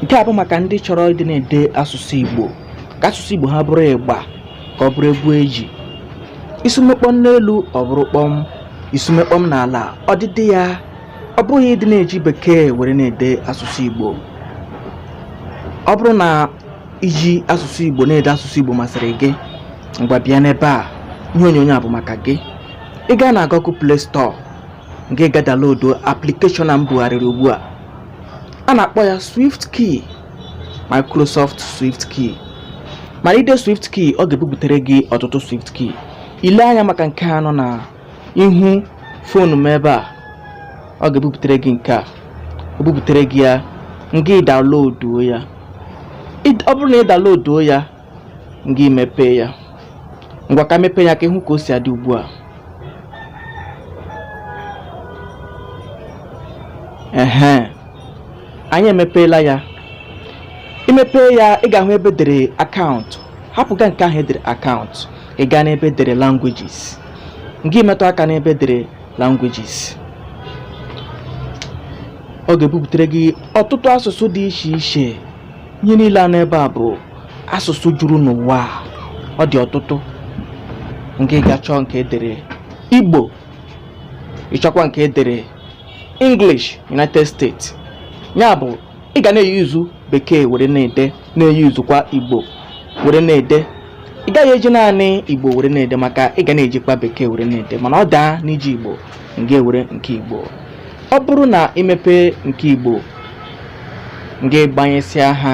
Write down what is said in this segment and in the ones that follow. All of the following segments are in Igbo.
nke a bụ maka ndị chọrọ ịdị na-ede asụsụ Igbo ka asụsụ Igbo ha bụrụ ịgba ka ọ bụrụ egwu eji isume kpọm n'elu ọ bụrụ kpọm isume kpọm n'ala ọdịdị ya ọ bụghị ịdị na-eji bekee were na-ede asụsụ Igbo ọ bụrụ na iji asụsụ Igbo na-ede asụsụ Igbo masịrị gị ngwa bịa n'ebe a ihe onyonyo a bụ maka gị ị gaa na Google Play Store ngị gaa download application a m bugharịrị ugbu a a na-akpọ ya swift key microsoft swift key mana ide swift key ọ ga-ebuputere gị ọtụtụ swift key ile anya maka nke a nọ na ihu fonu m ebe a ọ ga-ebuputere gị nke a o buputere gị ya ngị downloaduo ya ọ bụrụ na ị downloaduo ya gị mepee ya ngwa ka m mepee ya ka ịhụ ka o si adị ugbu a ehe anyị emepeela ya imepe ya ị ga-ahụ ebe edere akaụntụ hapụga nke ahụ edere akaụntụ ị gaa n'ebe edere languages ngị metụ aka n'ebe edere languages ọ ga-ebuputere gị ọtụtụ asụsụ dị iche iche ihe niile a n'ebe a bụ asụsụ juru n'ụwa a, ọ dị ọtụtụ ngị gaa chọọ nke edere igbo ịchọkwa nke edere english united states ya bụ ị ga na-eyuzu bekee were na-ede na-eyuzukwa igbo were na-ede ị gaghị eji naanị igbo were na-ede maka ị ga na-ejikwa bekee were na-ede mana ọ daa n'iji igbo ngị ewere nke igbo ọ bụrụ na imepe nke igbo ngị gbanyesịa ha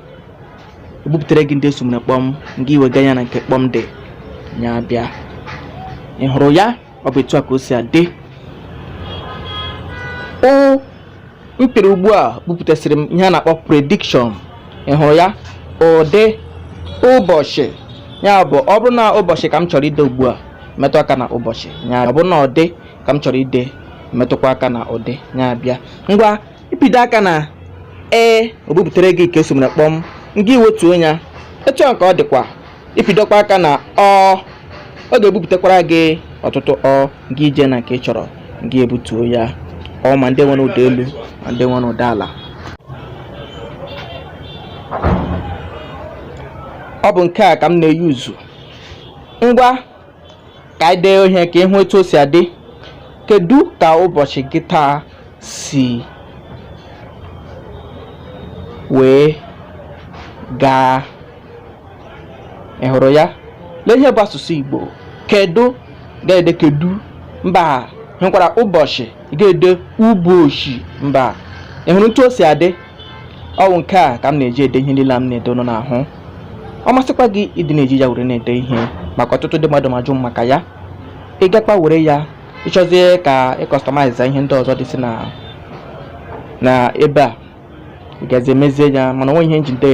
ebuputere gị ndị esumere kpọm ngị wega ya na nke kpọm dị ya abịa ị hụrụ ya ọ bụ etu a ka o si adị o mepere ugbu a buputesiri m ihe a na-akpọ prediction ị hụrụ ya ụdị ụbọchị ya bụ ọ bụrụ na ụbọchị ka m chọrọ ide ugbu a metụ aka na ụbọchị ya ọ bụrụ na ụdị ka m chọrọ ide metụkwa aka na ụdị ya abịa ngwa ịpịdo aka na ee o buputere gị nke esumere kpọm ngị wetuo ya etu a ka ọ dịkwa ịpịdokwa aka na ọ ọ ga-ebuputekwara gị ọtụtụ ọ ngị ije na nke ị chọrọ ngị ebutuo ya ọ ma ndị nwere ụda elu ma ndị nwere ụda ala ọ bụ nke a ka m na-eyuzu ngwa ka anyị dee ihe ka ịhụ etu o si adị kedu ka ụbọchị gị taa si wee gaa ị hụrụ ya lee ihe bụ asụsụ igbo kedu ga-ede kedu mba hụkwara ụbọchị ị ga-ede ụbọchị mba ị hụrụ etu o si adị ọ wụ nke a ka m na-eji ede ihe niile m na-ede ụnụ na-ahụ ọ masịkwa gị ịdị na-eji ya were na-ede ihe maka ọtụtụ ndị mmadụ na-ajụ maka ya ị gakwa were ya ị chọzie ka ị customize ihe ndị ọzọ dịsị na na ebe a ị gazi emezie ya mana o nwe ihe njide